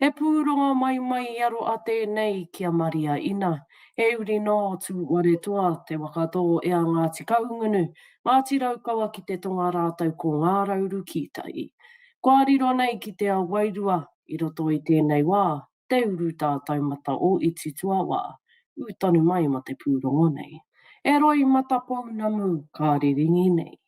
He pūrongo mai mai i aro a tēnei ki a Maria Ina. He uri nō Tūwaretoa, Te Wakatō e a Ngāti Kahungunu, Ngāti Raukawa ki te tonga rātou ko Ngā Rauru Kītai. Kua riro nei ki te ao wairua i roto i tēnei wā te urutā taumata o Iti Tuawā. Ū tonu mai ma te pūrongo nei. He roi mata pounamu ka riringi nei.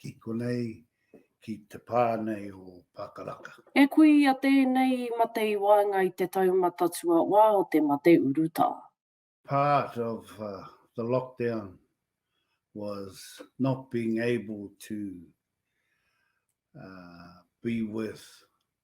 ki konei, ki te pā nei o Pākaraka. E kui i a tēnei i mate i waenga i te taumata tuawā o te mate urutā. Part of the lockdown was not being able to be with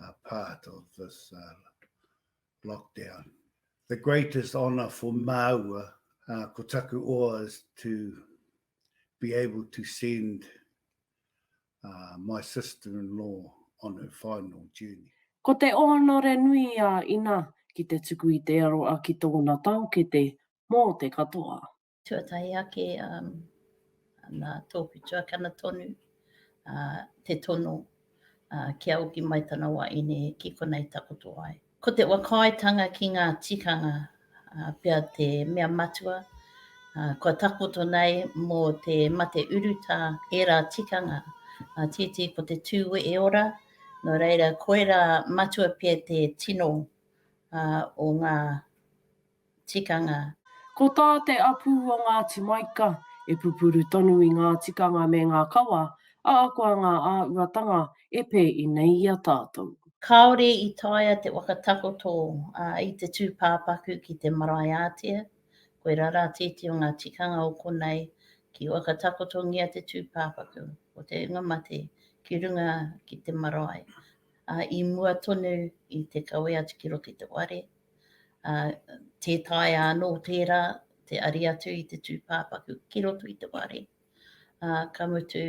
are part of this uh, lockdown. The greatest honour for Māua, uh, ko taku oa, is to be able to send uh, my sister-in-law on her final journey. Ko te ōnore nui a Ina ki te tuku i te aroa ki tōna taokete mō te katoa. Tuatahi ake, nā tōku tuakana tonu te tono kia oki mai tana wa ine ki konei takoto ai. Ko te whakaaetanga ki ngā tikanga pea te mea matua kua takoto nei mō te mate urutā ērā tikanga, tētehi ko te tū wehe ora, nō reira koirā matua pea te tino o ngā tikanga. Ko tā te apu o Ngāti Maika, e pupuru tonu i ngā tikanga me ngā kawa, ā, koa ngā āhuatanga e pē i nei i a tātou. Kāore i taea te whakatakoto i te tūpāpaku ki te marae ātea, koirā rā tēti o ngā tikanga o konei, ki whakatakotongia te tūpāpaku o te hunga mate ki runga ki te marae, ā, i mua tonu i te kawe atu ki roto i te ware, ā, tē taea anō tērā te ari atu i te tūpāpaku ki roto i te wāri, ā, ka mutu,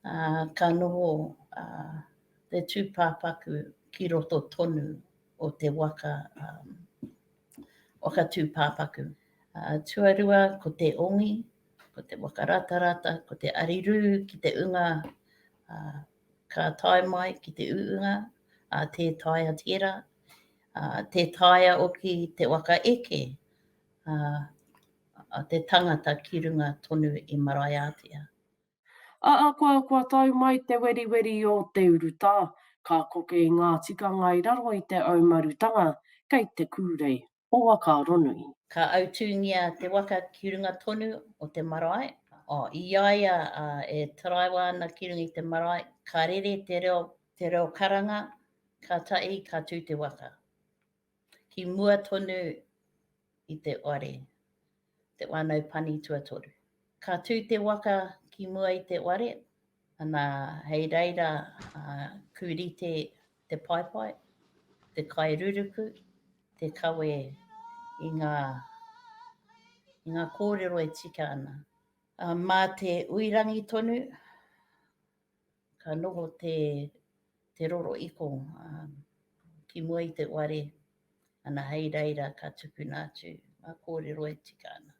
ā, ka noho, ā, te tūpāpaku ki roto tonu o te waka, ā, waka tūpāpaku. Ā, tuarua ko te ongi, ko te waka ratarata, ko te arirū ki te unga, ā, ka tae mai ki te uunga a Te Taea Tera, Te Taea oki te waka eke a te tangata ki runga tonu i Maraeātea. Ahakoa kua tau mai te weriweri o te urutā, ka koke i ngā tikanga i raro i te aumarutanga kei te kūrei. o Wakaronui. Ka autūngia te waka ki runga tonu o te marae. I a ia e taraiwa ana ki runga i te marae, ka rere te reo, te reo karanga, kātahi ka tū te waka ki mua tonu i te whare. Te wānau pani tuatoru. Ka tū te waka ki mua i te ware, ana hei reira ku rite te paepae, te kai ruruku, te kawe i ngā, i ngā kōrero e tika ana. Mā te uirangi tonu ka noho te te roro iko ki mua i te ware ana hei reira ka tukuna atu nga korero e tika ana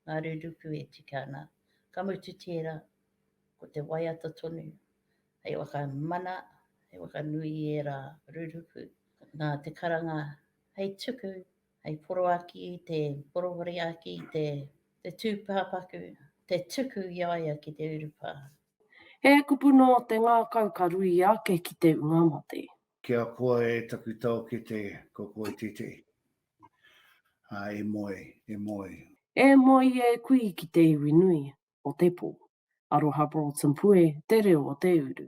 nga ruruku e tika ana ka mutu tera ko te waiata tonu hei whakamana hei whakanui i era ruruku na te karanga hei tuku hei poroaki i te poroporiaki i te te tupapaku te tuku i a ia ki te urupa. He kupu nō te ngākau ka ruia ake ki te ua mate. Ki a koa e taku taokete ko koe tētehi. A, e moe, e moe. E moe e kui ki te iwi nui o te pō. Aroha Broughton Pue te reo o te uru.